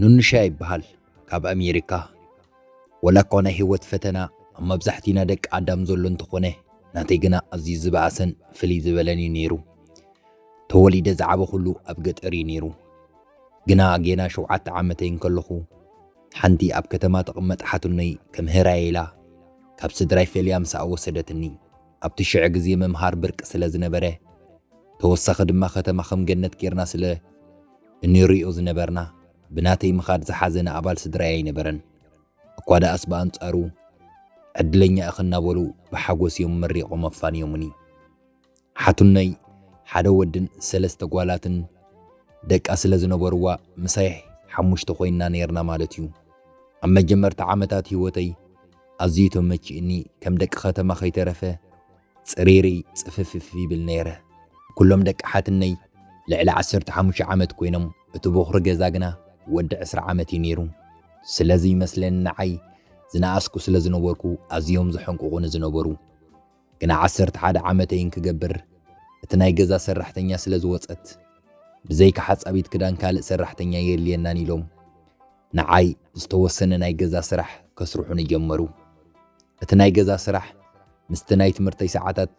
ኑንሻ ይበሃል ካብ ኣሜሪካ ወላ እኳ ናይ ህይወት ፈተና ኣብ መብዛሕትዩና ደቂ ኣዳም ዘሎ እንተኾነ ናተይ ግና ኣዝዩ ዝበኣሰን ፍልይ ዝበለን እዩ ነይሩ ተወሊደ ዝዓበኹሉ ኣብ ገጠር እዩ ነይሩ ግና ጌና ሸውዓተ ዓመተይ እንከለኹ ሓንቲ ኣብ ከተማ ትቕመጥ ሓትኖይ ከም ህራየይ ኢላ ካብ ስድራይ ፈልያ ምስኣ ወሰደትኒ። ኣብቲ ሽዕ ግዜ ምምሃር ብርቂ ስለ ዝነበረ፣ ተወሳኺ ድማ ከተማ ከም ገነት ጌርና ስለ እንርእዮ ዝነበርና፣ ብናተይ ምኻድ ዝሓዘነ ኣባል ስድራይ ኣይነበረን። እኳ ደኣስ ብኣንጻሩ ዕድለኛ ኢኺ እናበሉ ብሓጎስ እዮም መሪቖም ኣፋንዮምኒ። ሓትኖይ ሓደ ወድን ሰለስተ ጓላትን ደቃ ስለ ዝነበሩዋ ምሳይ ሓሙሽተ ኮይንና ኔርና ማለት እዩ። ኣብ መጀመርታ ዓመታት ህይወተይ ኣዝዩ ተመቺኡኒ ከም ደቂ ከተማ ከይተረፈ ጽሪርይ ጽፍፍፍ ይብል ነይረ። ኩሎም ደቂ ሓትነይ ልዕሊ ዓሰርተ ሓሙሽተ ዓመት ኮይኖም እቲ ቦኽሪ ገዛ ግና ወዲ ዕስራ ዓመት እዩ ነይሩ። ስለዚ ይመስለኒ ንዓይ ዝነኣስኩ ስለ ዝነበርኩ ኣዝዮም ዘሐንቁቑኒ ዝነበሩ። ግና ዓሰርተ ሓደ ዓመተይን ክገብር እቲ ናይ ገዛ ሰራሕተኛ ስለ ዝወጸት ብዘይካ ሓጻቢት ክዳን ካልእ ሰራሕተኛ የድልየናን ኢሎም ንዓይ ዝተወሰነ ናይ ገዛ ስራሕ ከስርሑኒ ጀመሩ። እቲ ናይ ገዛ ስራሕ ምስቲ ናይ ትምህርተይ ሰዓታት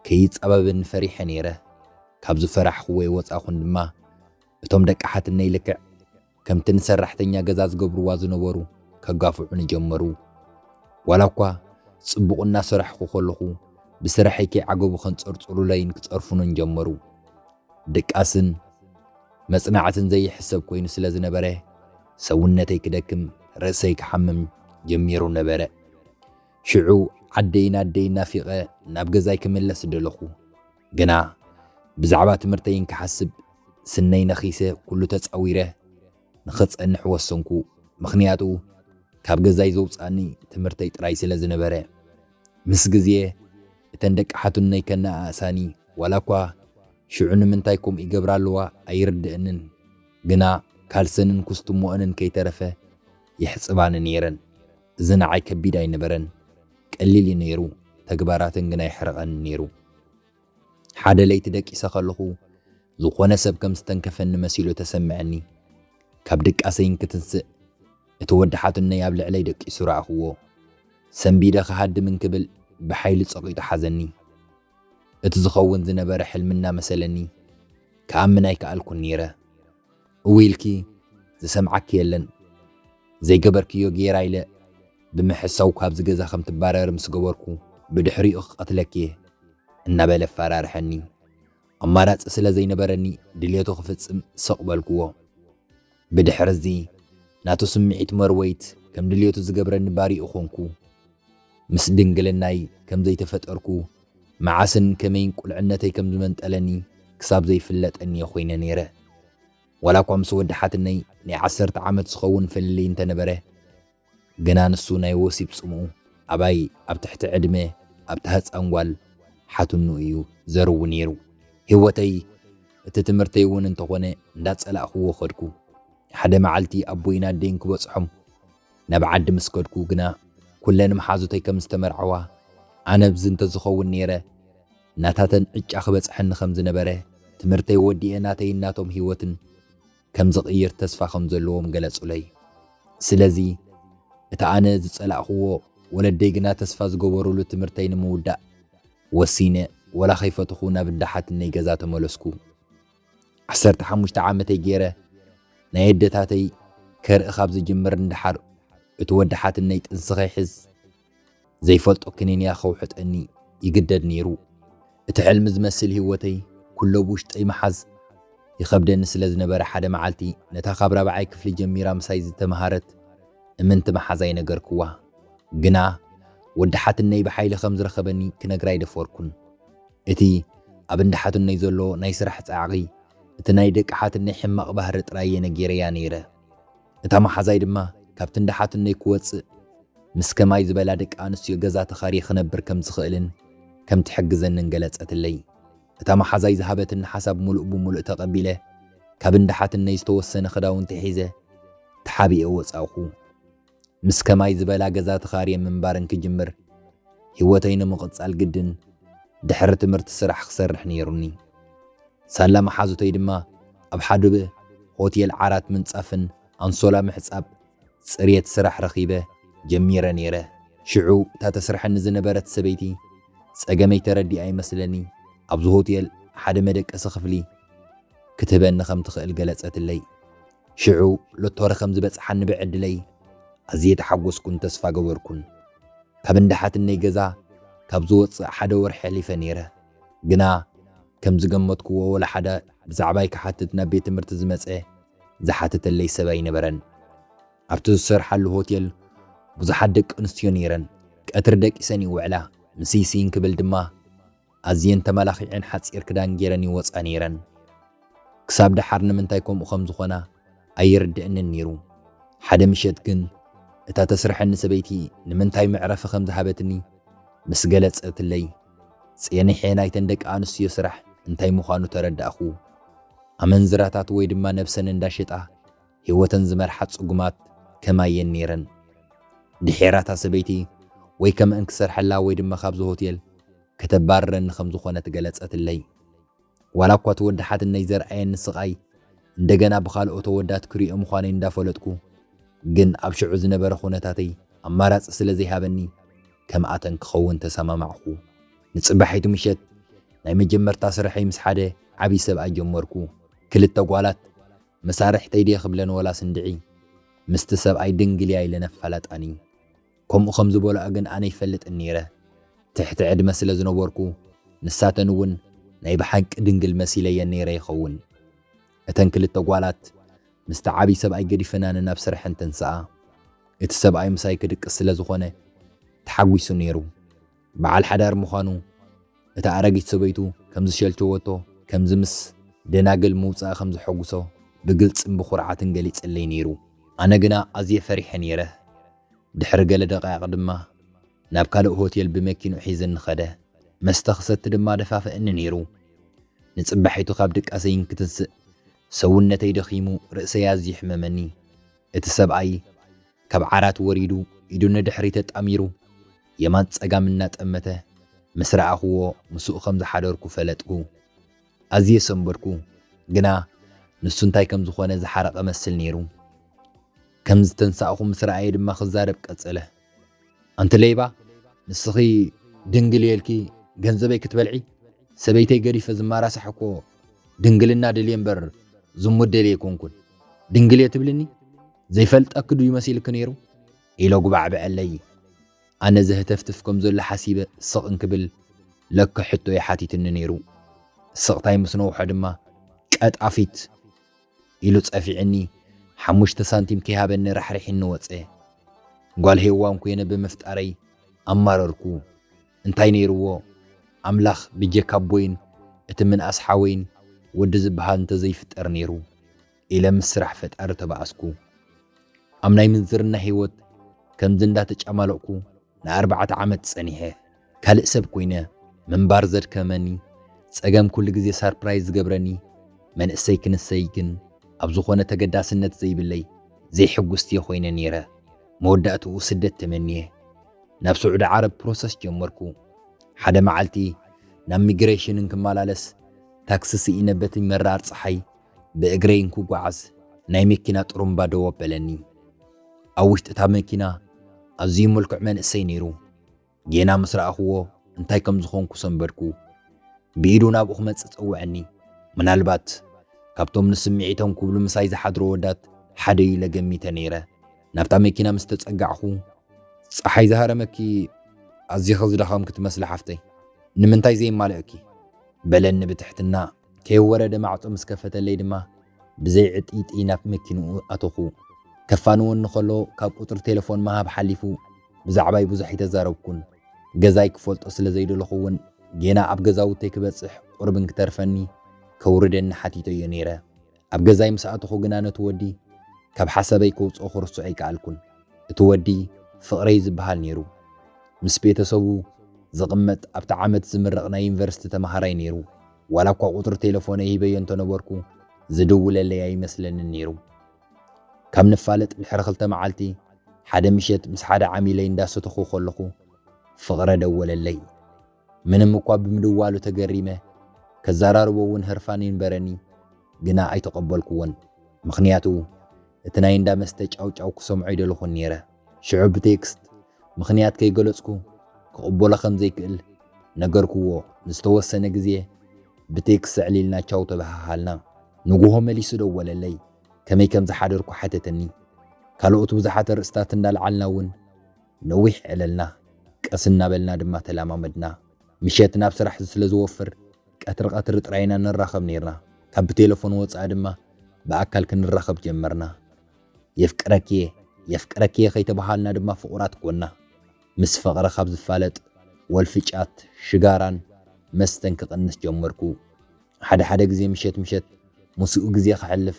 ከይጻበበኒ ፈሪሐ ነይረ። ካብ ዝፈራሕኽዎ የወጻኹን ድማ እቶም ደቂ ሓትነይ ልክዕ ከምቲ ንሰራሕተኛ ገዛ ዝገብርዋ ዝነበሩ ከጋፍዑኒ ጀመሩ። ዋላኳ ጽቡቕ እናሰራሕኹ ከለኹ ብስራሐይ ከይዓገቡ ከንጸርጽሩለይን ክጸርፉንን ጀመሩ። ድቃስን መጽናዕትን ዘይሕሰብ ኮይኑ ስለ ዝነበረ ሰውነተይ ክደክም ርእሰይ ክሓምም ጀሚሩ ነበረ። ሽዑ ዓደይን ኣደይን ናፊቐ ናብ ገዛይ ክምለስ ደለኹ። ግና ብዛዕባ ትምህርተይ እንክሓስብ ስነይ ነኺሰ ኩሉ ተጻዊረ ንኽጸንሕ ወሰንኩ ምኽንያቱ ካብ ገዛይ ዘውጽኣኒ ትምህርተይ ጥራይ ስለ ዝነበረ። ምስ ግዜ እተን ደቂ ሓትኖይ ከነኣእሳኒ ዋላ እኳ ሽዑ ንምንታይ ከምኡ ይገብራ ኣለዋ ኣይርድእንን ግና ካልሰንን ኩስትሞኦንን ከይተረፈ የሕጽባኒ ነይረን እዚ ንዓይ ከቢድ ኣይነበረን ቀሊል እዩ ነይሩ፣ ተግባራተን ግን ኣይሕረቐንን ነይሩ። ሓደ ለይቲ ደቂሰ ከለኹ፣ ዝኾነ ሰብ ከም ዝተንከፈኒ መሲሉ ተሰምዐኒ። ካብ ድቃሰይ እንክትንስእ፣ እቲ ወዲ ሓትኖይ ኣብ ልዕለይ ደቂሱ ረኣኹዎ። ሰንቢደ ክሃድም እንክብል ብሓይሊ ጸቒጡ ሓዘኒ። እቲ ዝኸውን ዝነበረ ሕልሚ እናመሰለኒ፣ ክኣምን ኣይከኣልኩን ነይረ። እውይ ኢልኪ ዝሰምዓኪ የለን ዘይገበርክዮ ጌራ ኢለ ብምሕሳው ካብዚ ገዛ ከም ትባረሪ ምስ ገበርኩ ብድሕሪኡ ክቀትለኪ እየ እናበለ ኣፋራርሐኒ ኣማራጺ ስለ ዘይነበረኒ ድልየቱ ክፍጽም ስቅ በልክዎ ብድሕርዚ ናቱ ስምዒት መርወይት ከም ድልየቱ ዝገብረኒ ባሪኡ ኮንኩ ምስ ድንግልናይ ከም ዘይተፈጠርኩ፣ መዓስን ከመይን ቁልዕነተይ ከም ዝመንጠለኒ ክሳብ ዘይፍለጠኒ'የ ኮይነ ነይረ። ዋላኳ ምስ ወዲ ሓትነይ ናይ ዓሰርተ ዓመት ዝኸውን ፍልልይ እንተነበረ፣ ግና ንሱ ናይ ወሲብ ጽምኡ ኣባይ ኣብ ትሕቲ ዕድመ ኣብታ ህጻን ጓል ሓትኑ እዩ ዘርዊ ነይሩ። ህይወተይ እቲ ትምህርተይ'ውን እንተኾነ እንዳጸላእክዎ ከድኩ። ሓደ መዓልቲ ኣቦይን ኣደይን ክበጽሖም፣ ናብ ዓዲ ምስ ከድኩ ግና ኩለን መሓዙተይ ከም ዝተመርዓዋ ኣነ ኣብዚ እንተ ዝኸውን ነይረ ናታተን ዕጫ ክበጽሐኒ ከም ዝነበረ ትምህርተይ ወዲኤ ናተይን ናቶም ህይወትን ከም ዝቕይር ተስፋ ከም ዘለዎም ገለጹለይ። ስለዚ እቲ ኣነ ዝጸላእክዎ ወለደይ ግና ተስፋ ዝገበሩሉ ትምህርተይ ንምውዳእ ወሲነ ወላ ከይፈተኹ ናብ እንዳ ሓትነይ ገዛ ተመለስኩ። ዓሰርተ ሓሙሽተ ዓመተይ ገይረ ናይ ኣደታተይ ከርኢ ካብ ዝጅምር ንደሓር እቲ ወዲ ሓትነይ ጥንሲ ከይሕዝ ዘይፈልጦ ክኒንያ ከውሕጠኒ ይግደድ ነይሩ። እቲ ሕልሚ ዝመስል ህይወተይ ኩሎ ብውሽጠይ ምሓዝ ይኸብደኒ ስለ ዝነበረ ሓደ መዓልቲ ነታ ካብ ራብዓይ ክፍሊ ጀሚራ ምሳይ ዝተምሃረት እምንቲ መሓዛይ ነገርክዋ። ግና ወዲ ሓትነይ ብሓይሊ ከም ዝረኸበኒ ክነግራ ኣይደፈርኩን። እቲ ኣብ እንዳ ሓትኖይ ዘሎ ናይ ስራሕ ጻዕቒ፣ እቲ ናይ ደቂ ሓትነይ ሕማቕ ባህሪ ጥራይ እየ ነጊረያ ነይረ። እታ መሓዛይ ድማ ካብቲ እንዳ ሓትኖይ ክወጽእ፣ ምስ ከማይ ዝበላ ደቂ ኣንስትዮ ገዛ ተኻርየ ክነብር ከም ዝኽእልን ከም ትሕግዘንን ገለጸትለይ። እታ መሓዛይ ዝሃበትኒ ሓሳብ ምሉእ ብምሉእ ተቐቢለ፣ ካብ እንዳ ሓትነይ ዝተወሰነ ክዳውንቲ ሒዘ ተሓቢኤ ወጻእኩ። ምስ ከማይ ዝበላ ገዛ ተኻርየ ምንባር እንክጅምር ህይወተይ ንምቕጻል ግድን ድሕሪ ትምህርቲ ስራሕ ክሰርሕ ነይሩኒ። ሳላ መሓዙተይ ድማ ኣብ ሓዱበ ሆቴል ዓራት ምንጻፍን ኣንሶላ ምሕጻብ ጽርየት ስራሕ ረኺበ ጀሚረ ነይረ። ሽዑ እታ ተስርሐኒ ዝነበረት ሰበይቲ ጸገመይ ተረዲኣ ይመስለኒ ኣብዚ ሆቴል ሓደ መደቀሲ ክፍሊ ክትህበኒ ከም ትኽእል ገለጸትለይ። ሽዑ ሎቶሪ ከም ዝበጽሓኒ ብዕድለይ ኣዝየ ተሓጐስኩን ተስፋ ገበርኩን። ካብ እንዳ ሓትነይ ገዛ ካብ ዝወጽእ ሓደ ወርሒ ኣሕሊፈ ነይረ። ግና ከም ዝገመትኩዎ ወላ ሓደ ብዛዕባይ ክሓትት ናብ ቤት ትምህርቲ ዝመጸ ዝሓተተለይ ሰብ ኣይነበረን። ኣብቲ ዝሰርሓሉ ሆቴል ብዙሓት ደቂ ኣንስትዮ ነይረን። ቀትሪ ደቂሰን ይውዕላ፣ ምስይስይ እንክብል ድማ ኣዝየን ተመላኺዔን ሓጺር ክዳን ጌረን ይወጻ ኔረን። ክሳብ ደሓር ንምንታይ ከምኡ ከም ዝኾና ኣይርደእንን ኔሩ። ሓደ ምሸት ግን እታ ተስርሐኒ ሰበይቲ ንምንታይ መዕረፊ ከም ዝሃበትኒ ምስ ገለጸትለይ፣ ጼኒሐ ናይተን ደቂ ኣንስትዮ ስራሕ እንታይ ምዃኑ ተረዳእኩ። ኣመንዝራታት ወይ ድማ ነብሰን እንዳ ሸጣ፣ ሂወተን ዝመርሓ ጽጉማት ከማየን ኔረን ድሒራታ ሰበይቲ ወይ ከመእን ክሰርሐላ ወይ ድማ ካብዚ ሆቴል ከተባርረኒ ከም ዝኾነት ገለጸትለይ ዋላ እኳ እቲ ወዲ ሓትነይ ዘርኣየኒ ስቃይ እንደገና ብኻልኦት ኣወዳት ክሪኦ ምዃነይ እንዳፈለጥኩ ግን ኣብ ሽዑ ዝነበረ ኩነታተይ ኣማራጺ ስለ ዘይሃበኒ ከምኣተን ክኸውን ተሰማማዕኩ ንጽባሒቱ ምሸት ናይ መጀመርታ ስርሐይ ምስ ሓደ ዓቢ ሰብኣይ ጀመርኩ ክልተ ጓላት መሳርሕተይ ድየ ክብለን ወላስ እንድዒ ምስቲ ሰብኣይ ድንግል እያ ኢለን ኣፋላጣኒ። ከምኡ ከም ዝበልኦ ግን ኣነ ኣይፈልጥን ነይረ። ትሕቲ ዕድመ ስለ ዝነበርኩ ንሳተን እውን ናይ ብሓቂ ድንግል መሲለየን ነይረ ይኸውን። እተን ክልተ ጓላት ምስቲ ዓብዪ ሰብኣይ ገዲፈናኒ ናብ ስርሐን ተንስኣ። እቲ ሰብኣይ ምሳይ ክድቅስ ስለ ዝኾነ ተሓጒሱ ነይሩ። በዓል ሓዳር ምዃኑ እታ ኣረጊት ሰበይቱ ከም ዝሸልቸወቶ፣ ከምዚ ምስ ደናግል ምውጻእ ከም ዘሐጉሶ ብግልጽን ብኹርዓትን ገሊጽለይ ነይሩ። ኣነ ግና ኣዝየ ፈሪሐ ነይረ። ድሕሪ ገለ ደቓይቕ ድማ ናብ ካልእ ሆቴል ብመኪንኡ ሒዝኒ ከደ። መስተ ክሰቲ ድማ ደፋፍእኒ ነይሩ። ንጽባሒቱ ካብ ድቃሰይ እንክትንስእ ሰውነተይ ደኺሙ ርእሰይ ኣዝዩ ይሕመመኒ። እቲ ሰብኣይ። ካብ ዓራት ወሪዱ ኢዱ ንድሕሪት ኣጣሚሩ የማን ጸጋም እናጠመተ ምስ ረኣኹዎ ምስኡ ከም ዝሓደርኩ ፈለጥኩ። ኣዝየ ሰንበድኩ፣ ግና ንሱ እንታይ ከም ዝኾነ ዝሓረቐ እመስል ነይሩ። ከም ዝተንሳእኹ ምስ ረኣየ ድማ ክዛረብ ቀጸለ። ኣንቲ ለይባ፣ ንስኺ ድንግል እየ ኢልኪ ገንዘበይ ክትበልዒ? ሰበይተይ ገዲፈ ዝመራሳሕ እኮ ድንግልና ደልየ እምበር ዝሙት ደልየ ኣይኮንኩን። ድንግል እየ ትብልኒ? ዘይፈልጠኪ ድዩ መሲልኪ ነይሩ? ኢለ ኣጉባዕበዐለይ። ኣነ ዘህተፍትፍ ከም ዘሎ ሓሲበ ስቕ እንክብል ለከ ሕቶ እዩ ሓቲትኒ ነይሩ። ስቕታይ ምስ ነውሖ ድማ ቀጣፊት ኢሉ ጸፊዕኒ ሓሙሽተ ሳንቲም ከይሃበኒ ራሕሪሒኒ ወጸ። ጓል ሄዋን ኮይነ ብምፍጣረይ ኣማረርኩ። እንታይ ነይርዎ ኣምላኽ ብጀካ ኣቦይን እቲ ምንኣስ ሓወይን ወዲ ዝበሃል እንተዘይፍጠር ነይሩ። ኢለ ምስ ስራሕ ፈጣሪ ተባኣስኩ። ኣብ ናይ ምንዝርና ህይወት ከምዚ እንዳተጫማለቕኩ ንኣርባዕተ ዓመት ጸኒሐ ካልእ ሰብ ኮይነ ምንባር ዘድከመኒ ጸገም ኩሉ ግዜ ሳርፕራይዝ ዝገብረኒ መንእሰይ ክንሰይ ግን ኣብ ዝኾነ ተገዳስነት ዘይብለይ ዘይሕጉስቲ'የ ኮይነ ኔረ። መወዳእትኡ ስደት ተመንየ ናብ ስዑዲ ዓረብ ፕሮሰስ ጀመርኩ። ሓደ መዓልቲ ናብ ሚግሬሽን እንክመላለስ ታክሲ ስኢነ በቲ መራር ጸሓይ ብእግረይ እንክጓዓዝ ናይ መኪና ጥሩምባ ደው ኣበለኒ። ኣብ ውሽጢ እታ መኪና ኣዝዩ ምልኩዕ መንእሰይ ነይሩ። ጌና ምስ ረኣኹዎ እንታይ ከም ዝኾንኩ ሰንበድኩ። ብኢዱ ናብኡ ክመጽእ ጸውዐኒ። ምናልባት ካብቶም ንስምዒቶም ክብሉ ምሳይ ዝሓድሩ ኣወዳት ሓደ'ዩ ኢለ ገሚተ ነይረ። ናብታ መኪና ምስ ተጸጋዕኩ። ጸሓይ ዝሃረመኪ ኣዚኺ ዝደኸምኪ ትመስሊ ሓፍተይ፣ ንምንታይ ዘይማልእኪ? በለኒ ብትሕትና። ከይወረደ ማዕጾ ምስ ከፈተለይ ድማ ብዘይ ዕጥይጥይ ናብ መኪንኡ ኣተኹ። ከፋንወኒ ከሎ ካብ ቁጽሪ ቴለፎን ምሃብ ሓሊፉ ብዛዕባይ ብዙሕ ኣይተዛረብኩን። ገዛይ ክፈልጦ ስለ ዘይደለኹ እውን ጌና ኣብ ገዛውተይ ክበጽሕ ቁርብ እንክተርፈኒ ከውርደኒ ሓቲተዮ ነይረ። ኣብ ገዛይ ምስ ኣተኹ ግና ነቲ ወዲ ካብ ሓሳበይ ከውጽኦ ክርስዖ ኣይከኣልኩን። እቲ ወዲ ፍቕረይ ዝበሃል ነይሩ። ምስ ቤተሰቡ ዝቕመጥ ኣብቲ ዓመት ዝምረቕ ናይ ዩኒቨርሲቲ ተመሃራይ ነይሩ። ዋላ እኳ ቁጽሪ ቴለፎነይ ሂበዮ እንተነበርኩ ዝድውለለይ ኣይመስለንን ነይሩ። ካብ ንፋለጥ ድሕሪ ክልተ መዓልቲ ሓደ ምሸት ምስ ሓደ ዓሚለይ እንዳሰተኹ ከለኹ ፍቕረ ደወለለይ። ምንም እኳ ብምድዋሉ ተገሪመ፣ ከዘራርቦ እውን ህርፋን ይንበረኒ፣ ግና ኣይተቐበልኩዎን። ምኽንያቱ እቲ ናይ እንዳ መስተ ጫውጫው ክሰምዖ ኣይደለኹን ነይረ። ሽዑ ብቴክስት፣ ምኽንያት ከይገለጽኩ ክቕበሎ ከም ዘይክእል ነገርኩዎ። ንዝተወሰነ ግዜ ብቴክስት ኣዕሊልና ቻው ተበሃሃልና። ንግሆ መሊሱ ደወለለይ፣ ከመይ ከም ዝሓደርኩ ሓተተኒ። ካልኦት ብዙሓት ኣርእስታት እንዳልዓልና እውን፣ ነዊሕ ዕለልና፣ ቀስ እናበልና ድማ ተለማመድና። ምሸት ናብ ስራሕ ስለ ዝወፍር፣ ቀትሪ ቀትሪ ጥራይ ኢና ንራኸብ ኔርና። ካብ ብቴለፎን ወጻኢ ድማ ብኣካል ክንራኸብ ጀመርና። የፍቅረኪ'የ፣ የፍቅረኪ'የ ከይተበሃሃልና ድማ ፍቑራት ኰንና። ምስ ፍቕሪ ካብ ዝፋለጥ፣ ወልፊ ጫት፣ ሽጋራን መስተን ክቕንስ ጀመርኩ። ሓደ ሓደ ግዜ ምሸት ምሸት ምስኡ ግዜ ከሕልፍ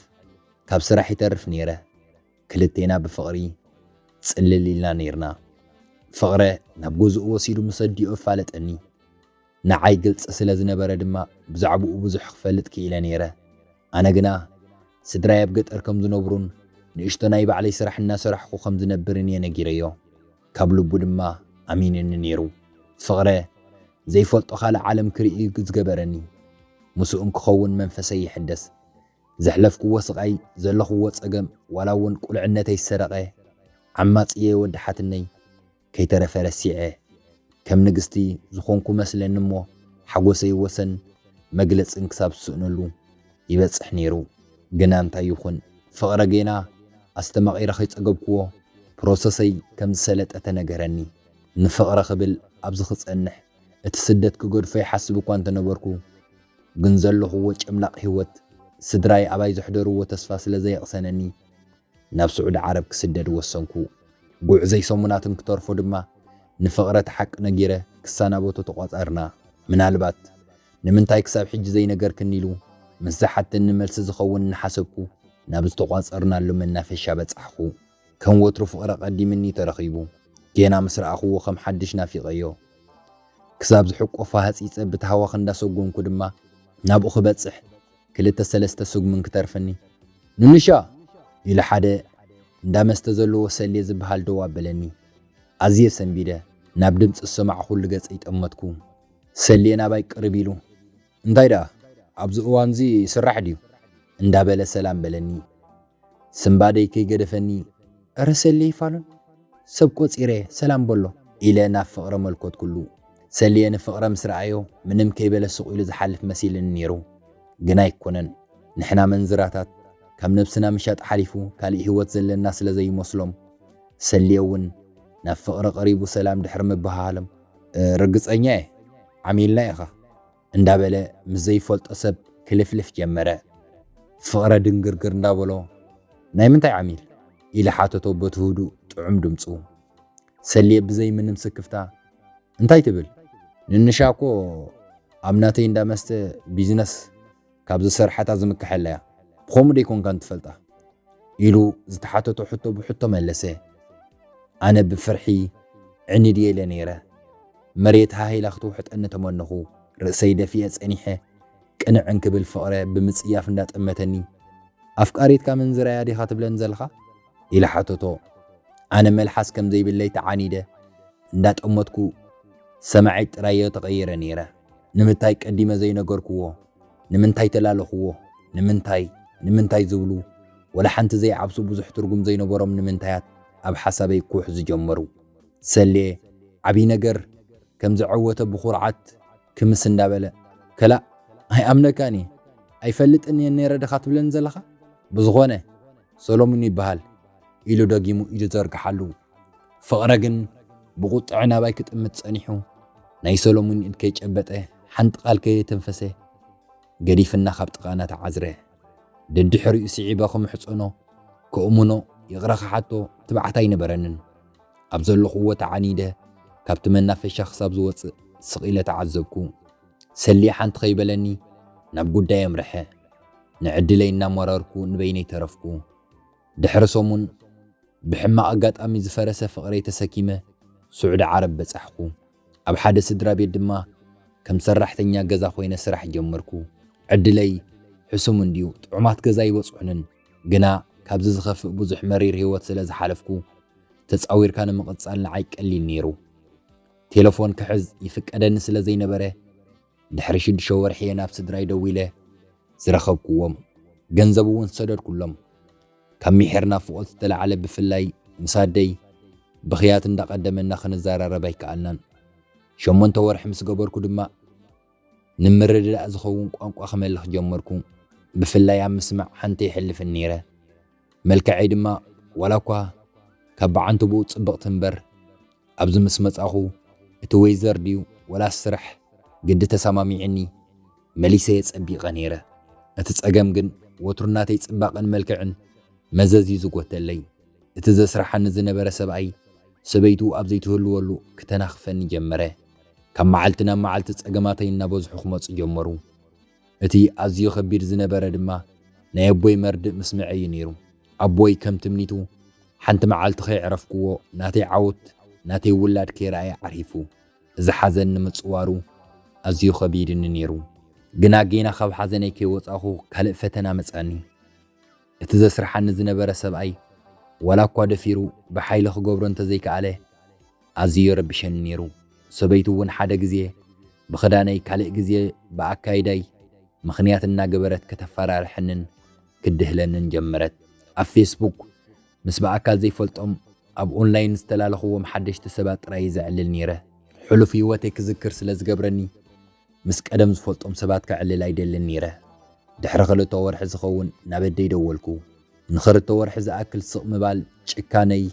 ካብ ስራሕ ይተርፍ ኔረ። ክልቴና ብፍቕሪ ጽልል ኢልና ኔርና። ፍቕረ ናብ ገዝኡ ወሲዱ ምስ ኣዲኡ ኣፋለጠኒ። ንዓይ ግልጺ ስለ ዝነበረ ድማ ብዛዕባኡ ብዙሕ ክፈልጥ ክኢለ ኔረ። ኣነ ግና ስድራይ ኣብ ገጠር ከም ዝነብሩን ንእሽቶ ናይ ባዕለይ ስራሕ እናሰራሕኩ ከም ዝነብርን እየ ነጊረዮ። ካብ ልቡ ድማ ኣሚኑኒ ኔሩ። ፍቕረ ዘይፈልጦ ካልእ ዓለም ክርኢ እዩ ዝገበረኒ። ምስኡ እንክኸውን መንፈሰይ ይሕደስ። ዘሕለፍክዎ ስቃይ ዘለኽዎ ጸገም ዋላ ውን ቁልዕነተይ ዝሰረቀ ዓማጺ'የ ወዲ ሓትነይ ከይተረፈ ረሲዐ ከም ንግስቲ ዝኾንኩ መስለኒ እሞ ሓጎሰይ ወሰን መግለጽን ክሳብ ዝስእነሉ ይበጽሕ ኔሩ ግና እንታይ ይኹን ፍቅረ ጌና ኣስተማቂረ ከይጸገብክዎ ፕሮሰሰይ ከም ዝሰለጠ ተነገረኒ ንፍቅረ ክብል ኣብዚ ክጸንሕ እቲ ስደት ክገድፎ ይሓስብ እኳ እንተነበርኩ ግን ዘለኹዎ ጨምላቕ ሂወት ስድራይ ኣባይ ዘሕደሩዎ ተስፋ ስለ ዘየቕሰነኒ ናብ ስዑዲ ዓረብ ክስደድ ወሰንኩ። ጉዕዘይ ሰሙናት እንክተርፎ ድማ ንፍቕረ እቲ ሓቂ ነጊረ ክሰናበቶ ተቋጸርና። ምናልባት ንምንታይ ክሳብ ሕጂ ዘይነገርክኒ ኢሉ ምስ ዝሓተኒ መልሲ ዝኸውን እናሓሰብኩ ናብ ዝተቋጸርናሉ መናፈሻ በጻሕኹ። ከም ወትሩ ፍቕሪ ኣቐዲምኒ ተረኺቡ ጌና ምስ ረኣኹዎ ከም ሓድሽ ናፊቐዮ ክሳብ ዝሕቆፋ ሃጺጸ ብታህዋኽ እንዳሰጎምኩ ድማ ናብኡ ክበጽሕ ክልተ ሰለስተ ስጉምን ክተርፍኒ ኑኑሻ! ኢሉ ሓደ እንዳ መስተ ዘለዎ ሰሌ ዝብሃል ደው ኣበለኒ። ኣዝየ ሰንቢደ ናብ ድምጺ ዝሰማዕኹሉ ገጸይ ጠመትኩ። ሰሌ ናባይ ቅርብ ኢሉ። እንታይ ደኣ ኣብዚ እዋንዚ ስራሕ ድዩ እንዳበለ ሰላም በለኒ ስንባደይ ከይገደፈኒ። እረ ሰልየይ ፋሉን ሰብ ቆጺረ ሰላም በሎ። ኢለ ናብ ፍቕረ መልኮትኩሉ። ሰልየ ንፍቕረ ምስ ረኣዮ ምንም ከይበለ ሱቕ ኢሉ ዝሓልፍ መሲልኒ ኔሩ። ግን ኣይኮነን። ንሕና መንዝራታት ካብ ነብስና ምሻጥ ሓሊፉ ካልእ ሂወት ዘለና ስለ ዘይመስሎም። ሰልየ ውን ናብ ፍቕረ ቀሪቡ ሰላም ድሕሪ ምብሃሃሎም። ርግጸኛ'የ ዓሚልና ኢኻ እንዳበለ ምስ ዘይፈልጦ ሰብ ክልፍልፍ ጀመረ። ፍቕረ ድንግርግር እንዳበሎ ናይ ምንታይ ዓሚል? ኢሊ ሓተቶ በቲ ህዱእ ጥዑም ድምጹ። ሰልየ ብዘይ ምንም ስክፍታ እንታይ ትብል ንንሻ እኮ ኣብ ናተይ እንዳ መስተ ቢዝነስ ካብ ዝሰርሓታ ዝምከሐላ እያ፣ ብኸምኡ ዶ ኣይኮንካን ትፈልጣ? ኢሉ ዝተሓተቶ ሕቶ ብሕቶ መለሰ። ኣነ ብፍርሒ ዕኒ ድየ ኢለ ነይረ። መሬት ሃህ ኢላ ክትውሕጠኒ ተመነኹ። ርእሰይ ደፊኤ ጸኒሐ። ቅንዕ እንክብል ፍቕረ ብምጽያፍ እንዳጠመተኒ፣ ኣፍቃሪትካ ምንዝራያ ዲኻ ትብለኒ ዘለኻ? ኢለ ሓተቶ። ኣነ መልሓስ ከም ዘይብለይ ተዓኒደ እንዳጠመትኩ ሰማዒት ጥራይዮ ተቐይረ ነይረ። ንምታይ ቀዲመ ዘይነገርኩዎ? ንምንታይ ተላለኹዎ? ንምንታይ? ንምንታይ ዝብሉ ወላ ሓንቲ ዘይዓብሱ ብዙሕ ትርጉም ዘይነበሮም ንምንታያት ኣብ ሓሳበይ ኩሕ ዝጀመሩ። ሰሌ ዓብይ ነገር ከም ዘዐወተ ብኹርዓት ክምስ እንዳበለ፣ ከላእ ኣይኣምነካን እየ፣ ኣይፈልጥን እየ ነይረ ድኻ ትብለኒ ዘለኻ? ብዝኾነ! ሰሎሙን ይበሃል ኢሉ ደጊሙ ኢዱ ዘርግሓሉ። ፍቕረ ግን ብቑጥዐ ናባይ ክጥምት ጸኒሑ፣ ናይ ሰሎሙን ኢድ ከይጨበጠ፣ ሓንቲ ቃል ከየተንፈሰ፣ ገዲፍና ካብ ጥቓና ተዓዝረ። ደድሕሪኡ ስዒበ ክምሕጸኖ፣ ክእምኖ፣ ይቕረ ክሓቶ ትብዓት ኣይነበረንን። ኣብ ዘለኹዎ ተዓኒደ፣ ካብቲ መናፈሻ ክሳብ ዝወጽእ ስቕ ኢለ ተዓዘብኩ። ሰሌ ሓንቲ ከይበለኒ ናብ ጉዳይ ኣምርሐ። ንዕድለይ እናመረርኩ ንበይነይ ተረፍኩ። ድሕሪ ሰሙን ብሕማቕ ኣጋጣሚ ዝፈረሰ ፍቕረይ ተሰኪመ ስዑዲ ዓረብ በጻሕኩ። ኣብ ሓደ ስድራቤት ድማ ከም ሰራሕተኛ ገዛ ኮይነ ስራሕ ጀመርኩ። ዕድለይ ሕሱም እንድዩ፣ ጥዑማት ገዛ ኣይበጽሑንን። ግና ካብዚ ዝኸፍእ ብዙሕ መሪር ህይወት ስለ ዝሓለፍኩ ተጻዊርካ ንምቕጻል ንዓይ ቀሊል ነይሩ። ቴለፎን ክሕዝ ይፍቀደኒ ስለ ዘይነበረ፣ ድሕሪ ሽዱሽተ ወርሒ እየ ናብ ስድራይ ደዊለ ዝረኸብኩዎም። ገንዘብ እውን ሰደድኩሎም። ካብ ሚሒር ናፍቖት ዝተላዕለ ብፍላይ ምስ ኣደይ ብኽያት እንዳቐደመና ክንዘራረብ ኣይከኣልናን። ሸሞንተ ወርሒ ምስ ገበርኩ ድማ ንምርድዳእ ዝኸውን ቋንቋ ክመልኽ ጀመርኩ። ብፍላይ ኣብ ምስማዕ ሓንቲ የሕልፍን ነይረ። መልከዐይ ድማ ዋላኳ ካብ ብዓንተቦኡ ጽብቕቲ እምበር፣ ኣብዚ ምስ መጻኹ እቲ ወይዘር ድዩ ወላስ ስራሕ ግዲ ተሳማሚዑኒ መሊሰ'የ ጸቢቐ ነይረ። እቲ ጸገም ግን ወትሩ ናተይ ጽባቐን መልክዕን መዘዝ'ዩ ዝጎተለይ። እቲ ዘስርሓኒ ዝነበረ ሰብኣይ ሰበይቱ ኣብ ዘይትህልወሉ ክተናኽፈኒ ጀመረ። ካብ መዓልቲ ናብ መዓልቲ ጸገማተይ እናበዝሑ ክመጹ ጀመሩ። እቲ ኣዝዩ ከቢድ ዝነበረ ድማ ናይ ኣቦይ መርድእ ምስምዐይ እዩ ነይሩ። ኣቦይ ከም ትምኒቱ ሓንቲ መዓልቲ ከየዕረፍኩዎ ናተይ ዓውት ናተይ ውላድ ከይረኣየ ዓሪፉ። እዚ ሓዘን ንምጽዋሩ ኣዝዩ ከቢድኒ ነይሩ። ግና ጌና ካብ ሓዘነይ ከይወጻእኩ ካልእ ፈተና መጽኣኒ። እቲ ዘስርሓኒ ዝነበረ ሰብኣይ ዋላ እኳ ደፊሩ ብሓይሊ ክገብሮ እንተዘይከኣለ፣ ኣዝዩ የረብሸኒ ነይሩ፣ ሰበይቱ እውን ሓደ ግዜ ብኽዳነይ ካልእ ግዜ ብኣካይዳይ ምኽንያት እናገበረት ከተፈራርሐንን ክትድህለንን ጀመረት። ኣብ ፌስቡክ ምስ ብኣካል ዘይፈልጦም ኣብ ኦንላይን ዝተላለኹዎም ሓደሽቲ ሰባት ጥራይ እየ ዘዕልል ነይረ። ሕሉፍ ህይወተይ ክዝክር ስለ ዝገብረኒ፣ ምስ ቀደም ዝፈልጦም ሰባት ከዕልል ኣይደልን ነይረ። ድሕሪ ክልተ ወርሒ ዝኸውን ናብ ኣደይ ደወልኩ። ንኽልተ ወርሒ ዝኣክል ስቕ ምባል ጭካነይ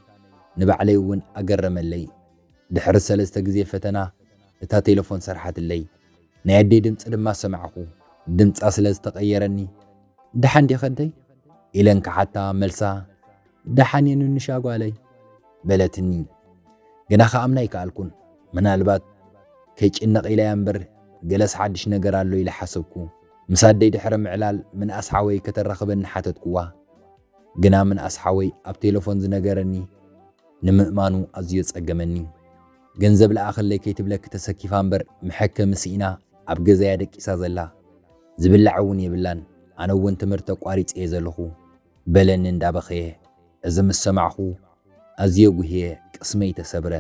ንባዕለይ እውን ኣገረመለይ። ድሕሪ ሰለስተ ግዜ ፈተና እታ ቴለፎን ሰርሓትለይ። ናይ ኣደይ ድምጺ ድማ ሰማዕኩ። ድምጻ ስለ ዝተቐየረኒ፣ ደሓን ዲኺ ኣደይ? ኢለ እንክሓታ፣ መልሳ፣ ደሓን እየ ንንሻ ጓለይ በለትኒ። ግና ከኣምና ኣይከኣልኩን። ምናልባት ከይጭነቕ ኢለያ እምበር ገለስ ሓድሽ ነገር ኣሎ ኢለ ሓሰብኩ። ምስ ኣደይ ድሕሪ ምዕላል ምንኣስ ሓወይ ከተራኽበኒ ሓተትኩዋ። ግና ምንኣስ ሓወይ ኣብ ቴለፎን ዝነገረኒ ንምእማኑ ኣዝዮ ጸገመኒ። ገንዘብ ለኣኸለይ ከይትብለኪ ተሰኪፋ እምበር መሐከሚ ስኢና ኣብ ገዛ እያ ደቂሳ ዘላ። ዝብላዕ እውን የብላን። ኣነ እውን ትምህርቲ ኣቋሪጸ እየ ዘለኹ። በለኒ እንዳበኸየ፣ እዚ ምስ ሰማዕኹ ኣዝየ ጉህየ ቅስመይ ተሰብረ፣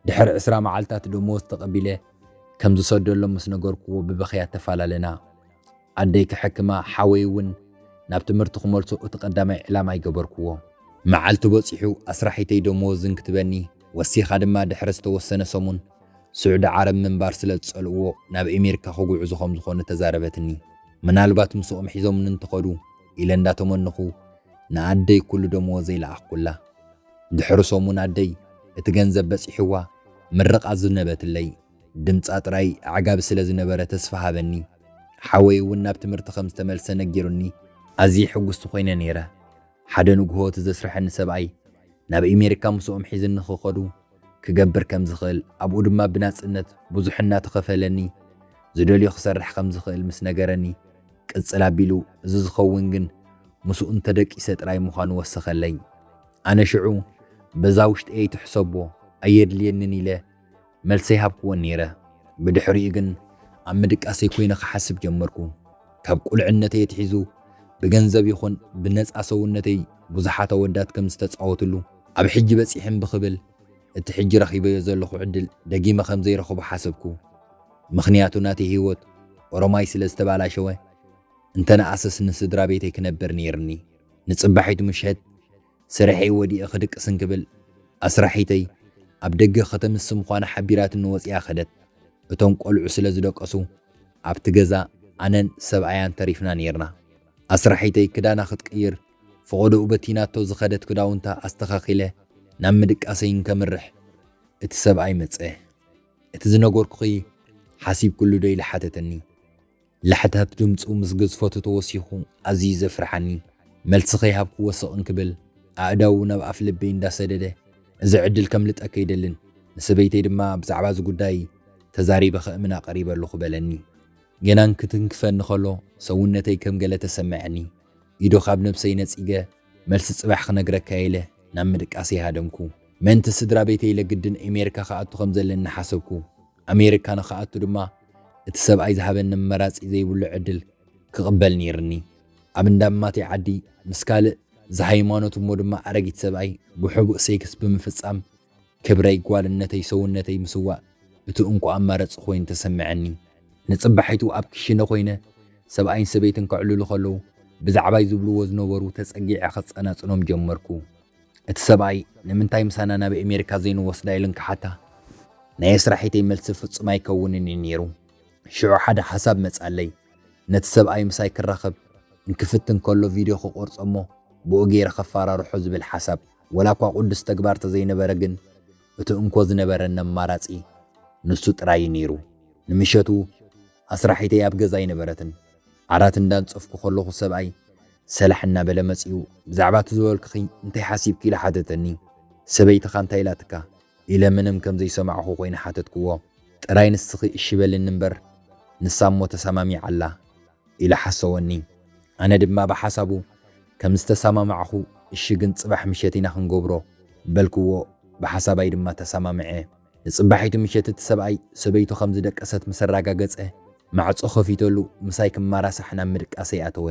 ድሕሪ ዕስራ መዓልታት ደሞዝ ተቐቢለ ከም ዝሰደሎም ምስ ነገርኩዎ ብብኽያት ተፈላለና፣ ኣደይ ክሕክማ ሓወይ እውን ናብ ትምህርቱ ክመልሶ እቲ ቀዳማይ ዕላማይ ገበርኩዎ። መዓልቲ በጺሑ ኣስራሒተይ ደሞዝ እንክትበኒ ወሲኻ ድማ ድሕሪ ዝተወሰነ ሰሙን ስዑዲ ዓረብ ምንባር ስለ ዝጸልእዎ ናብ ኤሜሪካ ክጉዕዙ ከም ዝኾኑ ተዛረበትኒ፣ ምናልባት ምስኦም ሒዞምኒ እንተኸዱ፣ ኢለ እንዳተመነኹ ንኣደይ ኩሉ ደመወዘይ ለኣኽኩላ። ድሕሪ ሰሙን ኣደይ እቲ ገንዘብ በጺሕዋ ምርቓ ኣዝነበትለይ። ድምጻ ጥራይ ኣዕጋቢ ስለ ዝነበረ ተስፋ ሃበኒ። ሓወይ እውን ናብ ትምህርቲ ከም ዝተመልሰ ነጊሩኒ። ኣዝየ ሕጉስቲ ኮይነ ነይረ። ሓደ ንግሆ እቲ ዘስረሐኒ ሰብኣይ ናብ ኤሜሪካ ምስኦም ሒዝኒ ክኸዱ ክገብር ከም ዝኽእል ኣብኡ ድማ ብናጽነት ብዙሕ እናተኸፈለኒ ዝደልዮ ክሰርሕ ከም ዝኽእል ምስ ነገረኒ ቅጽል ኣቢሉ እዚ ዝኸውን ግን ምስኡ እንተ ደቂሰ ጥራይ ምዃኑ ወሰኸለይ። ኣነ ሽዑ በዛ ውሽጠየይ ትሕሰቦ ኣየድልየንን ኢለ መልሰይ ሃብክዎን ነይረ። ብድሕሪኡ ግን ኣብ ምድቃሰይ ኮይነ ክሓስብ ጀመርኩ። ካብ ቁልዕነተይ ኣትሒዙ ብገንዘብ ይኹን ብነጻ ሰውነተይ ብዙሓት ኣወዳት ከም ዝተጻወትሉ ኣብ ሕጂ በጺሐን ብክብል፣ እቲ ሕጂ ረኺበዮ ዘለኹ ዕድል ደጊመ ከም ዘይረኽቦ ሓሰብኩ። ምኽንያቱ ናተይ ህይወት ኦሮማይ ስለ ዝተባላሸወ፣ እንተ ነኣሰስ ንስድራ ቤተይ ክነብር ነይርኒ። ንጽባሒቱ ምሸት ስርሐይ ወዲኤ ክድቅስ እንክብል፣ ኣስራሒተይ ኣብ ደገ ከተምሲ ምዃና ሓቢራትኒ ወጺኣ ከደት። እቶም ቈልዑ ስለ ዝደቀሱ፣ ኣብቲ ገዛ ኣነን ሰብኣያን ተሪፍና ነይርና። ኣስራሒተይ ክዳና ክትቅይር ፈቖዶኡ በቲናቶ ዝኸደት ክዳውንታ ኣስተኻኺለ ናብ ምድቃሰይ እንከምርሕ እቲ ሰብኣይ መጸ። እቲ ዝነገርኩኺ ሓሲብክሉዶ ኢሉ ሓተተኒ። ላሕታህት ድምጹ ምስ ግዝፈቱ ተወሲኹ ኣዝዩ ዘፍርሓኒ። መልሲ ከይሃብኩዎ ስቕ እንክብል ኣእዳዉ ናብ ኣፍ ልበይ እንዳሰደደ እዚ ዕድል ከምልጠኪ ኣይደልን ንሰበይተይ ድማ ብዛዕባ እዚ ጉዳይ ተዛሪበ ከእምና ቀሪበ ኣለኹ በለኒ። ገና ክትንክፈኒ ከሎ ሰውነተይ ከም ገለ ተሰመዐኒ። ኢዶ ካብ ነብሰይ ነጺገ መልሲ ጽባሕ ክነግረካ ኢለ ናብ ምድቃሰይ ሃደምኩ። ምእንቲ ስድራ ቤተይ ኢለ ግድን ኤሜሪካ ክኣቱ ከም ዘለኒ ሓሰብኩ። ኣሜሪካ ንክኣቱ ድማ እቲ ሰብኣይ ዝሃበኒ ኣማራጺ ዘይብሉ ዕድል ክቕበል ነይርኒ። ኣብ እንዳ ኣማተይ ዓዲ ምስ ካልእ ዝሃይማኖት እሞ ድማ ኣረጊት ሰብኣይ ብሕቡእ ሴክስ ብምፍጻም፣ ክብረይ ጓልነተይ ሰውነተይ ምስዋእ እቲ እንኮ ኣማረጺ ኮይኑ ተሰመዐኒ። ንጽባሒቱ ኣብ ክሽነ ኮይነ ሰብኣይን ሰበይትን ከዕልሉ ከለዉ ብዛዕባይ ዝብልዎ ዝነበሩ ተጸጊዐ ክጸናጽኖም ጀመርኩ። እቲ ሰብኣይ ንምንታይ ምሳና ናብ ኤሜሪካ ዘይንወስዳ ኢለን ክሓታ ናይ ኣስራሒተይ መልሲ ፍጹም ኣይከውንን እዩ ኔሩ። ሽዑ ሓደ ሓሳብ መጻለይ ነቲ ሰብኣይ ምሳይ ክራኸብ እንክፍትን ከሎ ቪድዮ ክቆርጾ እሞ ብኡ ጌረ ከፋራርሖ ዝብል ሓሳብ። ወላኳ ቁዱስ ተግባር ተዘይነበረ ግን እቲ እንኮ ዝነበረኒ ኣማራጺ ንሱ ጥራይ እዩ ነይሩ። ንምሸቱ ኣስራሒተይ ኣብ ገዛ ኣይነበረትን። ዓራት እንዳንጸፍኩ ከለኹ ሰብኣይ ሰላሕ እናበለ መጺኡ ብዛዕባ እቲ ዝበልኩኺ እንታይ ሓሲብኪ ኢሉ ሓተተኒ። ሰበይትኻ እንታይ ኢላትካ? ኢለ ምንም ከም ዘይሰማዕኹ ኮይኑ ሓተትክዎ። ጥራይ ንስኺ እሺ በልኒ እምበር ንሳ እሞ ተሳማሚዓ ኣላ። ኢለ ሓሰወኒ። ኣነ ድማ ብሓሳቡ ከም ዝተሰማማዕኹ እሺ ግን ጽባሕ ምሸት ኢና ክንገብሮ በልክዎ ብሓሳባይ ድማ ተሰማምዐ። ንጽባሒቱ ምሸት እቲ ሰብኣይ ሰበይቱ ከም ዝደቀሰት ምስ ኣራጋገጸ ማዕጾ ከፊተሉ ምሳይ ክማራሳሕ ናብ ምድቃሰይ ኣተወ።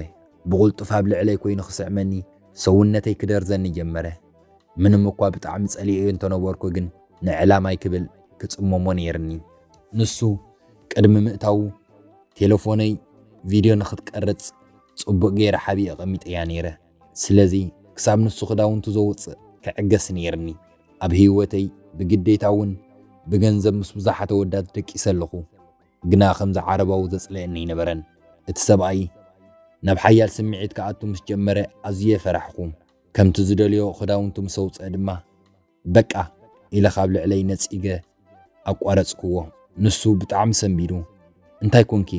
ብቕልጡፍ ኣብ ልዕለይ ኮይኑ ክስዕመኒ ሰውነተይ ክደርዘኒ ጀመረ። ምንም እኳ ብጣዕሚ ጸሊኤዮ እንተነበርኩ ግን ንዕላማይ ክብል ክጽመሞ ነይርኒ። ንሱ ቅድሚ ምእታዉ ቴለፎነይ ቪድዮ ንኽትቀርጽ ጽቡቕ ገይረ ሓቢኤ ኣቐሚጠያ ነይረ። ስለዚ ክሳብ ንሱ ክዳውንቱ ዘውጽእ ክዕገስ ነይርኒ። ኣብ ህይወተይ ብግዴታ እውን ብገንዘብ ምስ ብዙሓት ኣወዳት ደቂሰ ኣለኹ። ግና ከምዚ ዓረባዊ ዘጽልኣኒ ኣይነበረን። እቲ ሰብኣይ ናብ ሓያል ስምዒት ክኣቱ ምስ ጀመረ ኣዝየ ፈራሕኩ። ከምቲ ዝደልዮ ክዳውንቱ ምስ ኣውጽኣ ድማ፣ በቃ! ኢለ ካብ ልዕለይ ነጺገ ኣቋረጽክዎ። ንሱ ብጣዕሚ ሰንቢዱ፣ እንታይ ኮንኪ?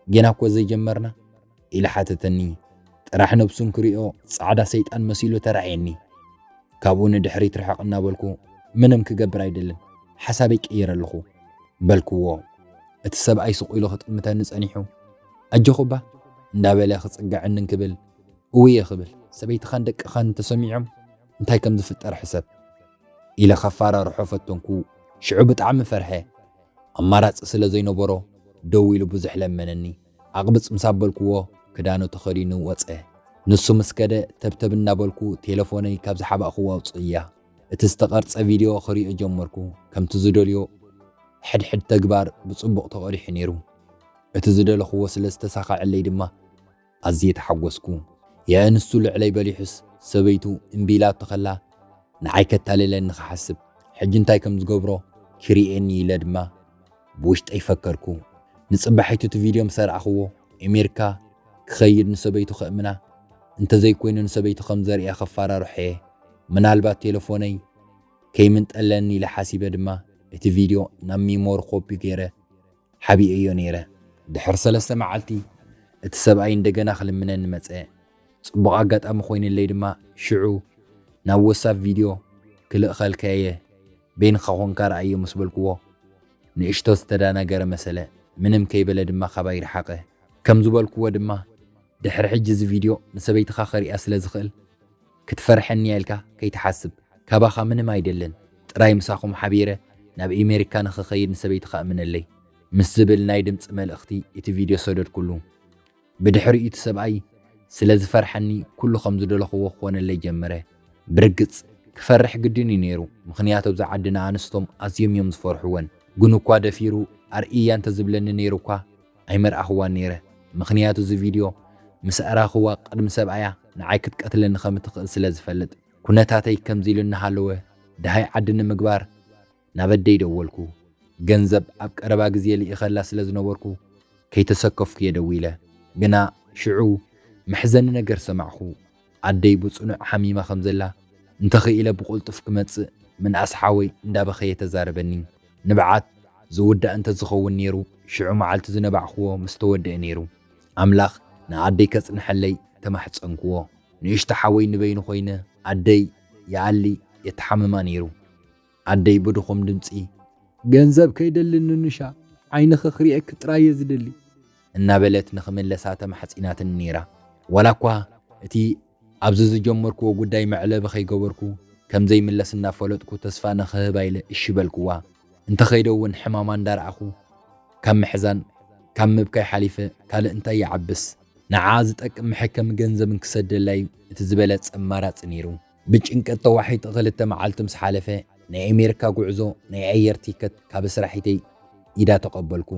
ጌና እኮ ዘይጀመርና? ኢሉ ሓተተኒ። ጥራሕ ነብሱ እንክሪኦ ጻዕዳ ሰይጣን መሲሉ ተራእየኒ። ካብኡ ንድሕሪት ርሕቕ እናበልኩ ምንም ክገብር ኣይደልን፣ ሓሳበይ ቀይረ ኣለኹ። በልክዎ። እቲ ሰብኣይ ስቕ ኢሉ ክጥምተኒ ጸኒሑ፣ ኣጆኹ እባ! እንዳበለ ክጽግዐኒ እንክብል እውየ ክብል፣ ሰበይትኻን ደቅኻን እንተሰሚዖም? እንታይ ከም ዝፍጠር ሕሰብ ኢለ ከፋራርሖ ፈተንኩ። ሽዑ ብጣዕሚ ፈርሐ። ኣማራጺ ስለ ዘይነበሮ ደው ኢሉ ብዙሕ ለመነኒ። ኣቕብጽ ምስ ኣበልኩዎ ክዳኑ ተኸዲኑ ወጸ። ንሱ ምስ ከደ ተብተብ እናበልኩ ቴለፎነይ ካብ ዝሓባእኩዎ ኣውጽእያ እቲ ዝተቐርጸ ቪድዮ ክሪኦ ጀመርኩ። ከምቲ ዝደልዮ ሕድሕድ ተግባር ብጽቡቕ ተቐዲሑ ነይሩ። እቲ ዝደለኹዎ ስለ ዝተሳኸዐለይ ድማ ኣዝየ ተሓጎስኩ። የእ ንሱ ልዕለይ በሊሑስ ሰበይቱ እምቢ ኢላቶ ከላ ንዓይ ከታልለኒ ክሓስብ ሕጂ እንታይ ከም ዝገብሮ ክሪኤኒ ኢለ ድማ ብውሽጠይ ፈከርኩ። ንጽባሒቱ እቲ ቪድዮ ምስ ኣርኣኽዎ ኤሜርካ ክኸይድ ንሰበይቱ ከእምና እንተዘይኮይኑ ንሰበይቲ ከም ዘርእያ ከፋራርሖ'የ። ምናልባት ቴለፎነይ ከይምንጠለኒ ኢለ ሓሲበ ድማ እቲ ቪድዮ ናብ ሚሞሪ ኮፒ ገይረ ሓቢኤዮ ነይረ። ድሕሪ ሰለስተ መዓልቲ፣ እቲ ሰብኣይ እንደገና ክልምነኒ መጸ። ጽቡቕ ኣጋጣሚ ኮይንለይ ድማ ሽዑ ናብ ወሳፕ ቪድዮ ክልእኸልካ'የ፣ በይንኻ ኮንካ ርኣዮ ምስ በልኩዎ፣ ንእሽቶ ዝተዳናገረ መሰለ፣ ምንም ከይበለ ድማ ካባይ ረሓቐ። ከም ዝበልኩዎ ድማ፣ ድሕሪ ሕጂ እዚ ቪድዮ ንሰበይትኻ ከርእያ ስለ ዝኽእል፣ ክትፈርሐኒያ ኢልካ ከይትሓስብ ካባኻ ምንም ኣይደልን ጥራይ ምሳኹም ሓቢረ ናብ ኢሜሪካ ንኽኸይድ ንሰበይትኻ እምነለይ ምስ ዝብል ናይ ድምፂ መልእኽቲ እቲ ቪድዮ ሰደድኩሉ ብድሕሪኡ እቲ ሰብኣይ ስለዝፈርሐኒ ኩሉ ከምዝደለኽዎ ክኾነለይ ጀመረ ብርግፅ ክፈርሕ ግድን እዩ ነይሩ ምኽንያቱ ኣብዛ ዓዲ ንኣንስቶም ኣዝዮም እዮም ዝፈርሑወን ግኑኳ ደፊሩ ኣርእይያ እንተዝብለኒ ነይሩኳ ኣይመርኣክዋን ነይረ ምክንያቱ እዚ ቪድዮ ምስ ኣራክዋ ቅድሚ ሰብኣያ ንዓይ ክትቀትለኒ ከም እትክእል ስለ ዝፈልጥ ኩነታተይ ከምዚ ኢሉ እናሃለወ ድሃይ ዓዲ ንምግባር ናብ ኣደይ ደወልኩ ገንዘብ ኣብ ቀረባ ግዜ ልኢከላ ስለ ዝነበርኩ ከይተሰከፍኩ እየ ደዊለ ግና ሽዑ መሕዘኒ ነገር ሰማዕኩ ኣደይ ብጽኑዕ ሓሚማ ከም ዘላ እንተ ኽኢለ ብቕልጡፍ ክመጽእ ምንኣስ ሓወይ እንዳ በኸየ ተዛረበኒ። ንብዓት ዝውዳእ እንተ ዝኸውን ኔሩ ሽዑ መዓልቲ ዝነባዕክዎ ምስ ተወድኤ ኔሩ። ኣምላኽ ንኣደይ ከጽንሐለይ ተማሕጸንክዎ። ንእሽቶ ሓወይ ንበይኑ ኮይነ ኣደይ ይኣሊ የተሓምማ ኔሩ። ኣደይ ብድኹም ድምጺ፣ ገንዘብ ከይደሊ ንኑሻ፣ ዓይንኺ ክርእየኪ ጥራይ'የ ዝደሊ። እናበለት ንኽምለሳ ተማሕጺናትኒ ነይራ። ዋላኳ እቲ ኣብዚ ዝጀመርክዎ ጉዳይ መዕለቢ ከይገበርኩ ከም ዘይምለስ እናፈለጥኩ ተስፋ ንኽህባ ኢለ እሺ በልክዋ። እንተኸይደ'ውን ሕማማ እንዳረኣኹ ካብ ምሕዛን ካብ ምብካይ ሓሊፈ ካልእ እንታይ ይዓብስ። ንዓኣ ዝጠቅም መሐከሚ ገንዘብ እንክሰደላ'ዩ እቲ ዝበለጸ ኣማራጺ ነይሩ። ብጭንቀት ተዋሒጠ ክልተ መዓልቲ ምስ ሓለፈ፣ ናይ ኣሜሪካ ጉዕዞ ናይ ኣየር ቲከት ካብ ኣስራሒተይ ኢዳ ተቐበልኩ።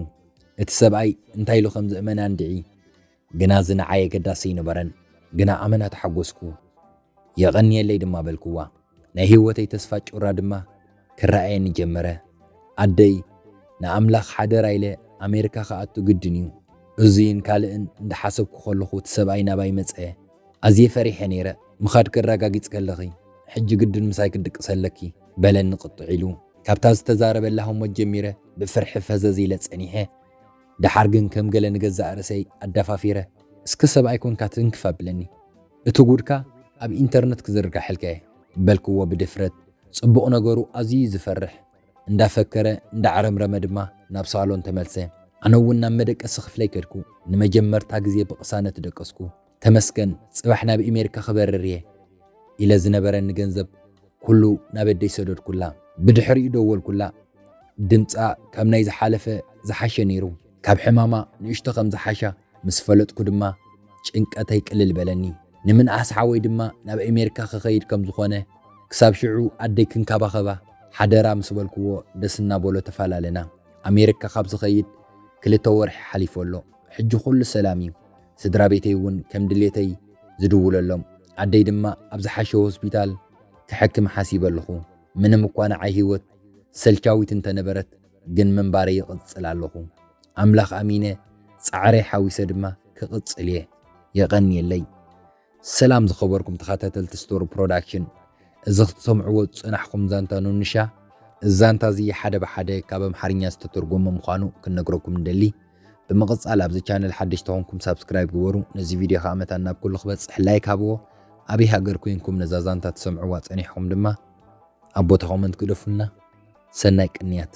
እቲ ሰብኣይ እንታይ ኢሉ ከም ዝእመና እንድዒ፣ ግና እዚ ንዓይ ኣገዳሲ ኣይነበረን። ግና ኣመና ተሓጎስኩ። የቐንየለይ ድማ በልክዋ። ናይ ህይወተይ ተስፋ ጩራ ድማ ክረኣየኒ ጀመረ። ኣደይ፣ ንኣምላኽ ሓደራ ኢለ ኣሜሪካ ክኣቱ ግድን እዩ። እዙይን ካልእን እንዳሓሰብኩ ከለኹ እቲ ሰብኣይ ናባይ መፀ። ኣዝየ ፈሪሐ ነይረ፣ ምኻድኪ ኣረጋጊጽኪ ኣለኺ፣ ሕጂ ግድን ምሳይ ክትድቅሲ ኣለኪ፣ በለኒ ቁጥዕ ኢሉ። ካብታ ዝተዛረበላ ህሞት ጀሚረ ብፍርሒ ፈዘዝ ኢለ ጸኒሐ። ደሓር ግን ከም ገለ ንገዛእ ርእሰይ ኣዳፋፊረ፣ እስከ ሰብኣይ ኰንካ ትንክፍ ኣብለኒ፣ እቲ ጉድካ ኣብ ኢንተርነት ክዝርጋሐልካ'የ፣ በልክዎ ብድፍረት። ጽቡቕ ነገሩ ኣዝዩ'ዩ ዝፈርሕ። እንዳፈከረ እንዳዕረምረመ ድማ ናብ ሳሎን ተመልሰ። ኣነ እውን ናብ መደቀሲ ክፍለይ ከድኩ። ንመጀመርታ ግዜ ብቕሳነት ደቀስኩ። ተመስገን ጽባሕ ናብ ኢሜሪካ ክበርር እየ ኢለ ዝነበረኒ ገንዘብ ኩሉ ናብ ኣደይ ሰደድኩላ። ብድሕሪኡ ደወልኩላ። ድምጻ ካብ ናይ ዝሓለፈ ዝሓሸ ነይሩ። ካብ ሕማማ ንእሽቶ ከም ዝሓሻ ምስ ፈለጥኩ ድማ ጭንቀተይ ቅልል በለኒ። ንምንኣስ ሓወይ ድማ ናብ ኣሜሪካ ክኸይድ ከም ዝኾነ ክሳብ ሽዑ ኣደይ ክንካባኸባ ሓደራ ምስ በልክዎ ደስ እናበሎ ተፈላለና። ኣሜሪካ ካብ ዝኸይድ ክልተ ወርሒ ሓሊፉ ኣሎ። ሕጂ ኩሉ ሰላም እዩ። ስድራ ቤተይ እውን ከም ድሌተይ ዝድውለሎም። ኣደይ ድማ ኣብ ዝሓሸ ሆስፒታል ከሕክም ሓሲበ ኣለኹ። ምንም እኳ ንዓይ ህይወት ሰልቻዊት እንተነበረት ግን ምንባረይ ይቕጽል ኣለኹ። ኣምላኽ ኣሚነ ጻዕረይ ሓዊሰ ድማ ክቕጽል እየ። የቐንየለይ። ሰላም ዝኸበርኩም ተኸታተልቲ ስቶር ፕሮዳክሽን እዚ ክትሰምዕዎ ዝጸናሕኩም ዛንታ ኑንሻ እዚ ዛንታ እዚ ሓደ ብሓደ ካብ ኣምሓርኛ ዝተተርጎመ ምዃኑ ክንነግረኩም ንደሊ ብምቕጻል ኣብዚ ቻነል ሓድሽ ተኾንኩም ሳብስክራይብ ግበሩ ነዚ ቪድዮ ከዓ መታን ናብ ኩሉ ክበጽሕ ላይክ ሃብዎ ኣብይ ሃገር ኮይንኩም ነዛ ዛንታ ትሰምዕዋ ጸኒሕኩም ድማ ኣብ ቦታ ኮመንት ግደፉልና ሰናይ ቅንያት